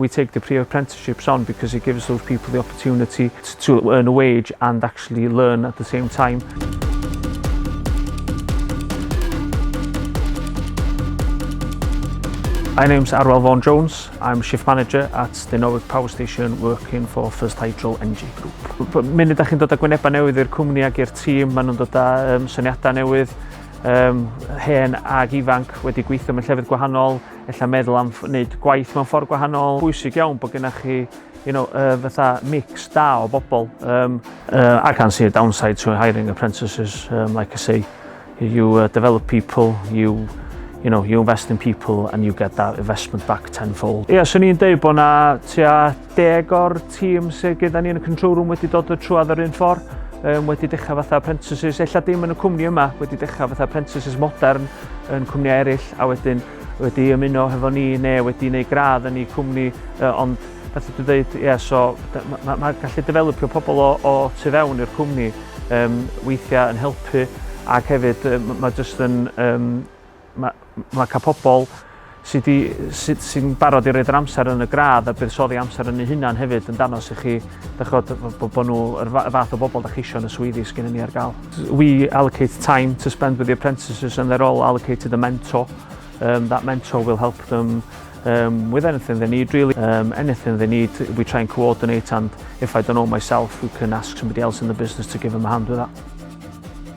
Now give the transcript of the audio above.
We take the pre apprenticeships on because it gives those people the opportunity to earn a wage and actually learn at the same time. My name's Arwel Vaughan Jones. I'm shift manager at the Norwich Power Station working for First Hydro Energy Group. Munud da chi'n dod â gwynebau newydd i'r cwmni ac i'r tîm, maen nhw'n dod â um, syniadau newydd, um, hen ag ifanc wedi gweithio mewn llefydd gwahanol, ella meddwl am wneud gwaith mewn ffordd gwahanol. Bwysig iawn bod gennych chi you know, uh, fatha mix da o bobl. Um, uh, I can see a downside to hiring apprentices. Um, like I say, you uh, develop people, you you know, you invest in people and you get that investment back tenfold. Ie, yeah, swn i'n deud bod na tua deg o'r tîm sydd gyda ni yn y control room wedi dod y trwad yr un ffordd, um, wedi dechrau fatha apprentices, ella dim yn y cwmni yma, wedi dechrau fatha apprentices modern yn cwmniau eraill, a wedyn wedi ymuno hefo ni neu wedi gwneud gradd yn ei cwmni, uh, ond beth ydw dweud, ie, yeah, so mae ma, ma gallu developio pobl o, o tu fewn i'r cwmni um, weithiau yn helpu ac hefyd um, mae jyst yn um, Mae, mae cael pobl sy'n sy, sy, sy barod i roed yr amser yn y gradd a buddsoddi amser yn ei hunan hefyd yn danos i chi, dachod, bod bo nhw yr fath o bobl da chi eisiau yn y swyddi sydd gennym ni ar gael. We allocate time to spend with the apprentices and they're all allocated a mentor. Um, that mentor will help them um, with anything they need really. Um, anything they need, we try and coordinate and if I don't know myself, we can ask somebody else in the business to give them a hand with that.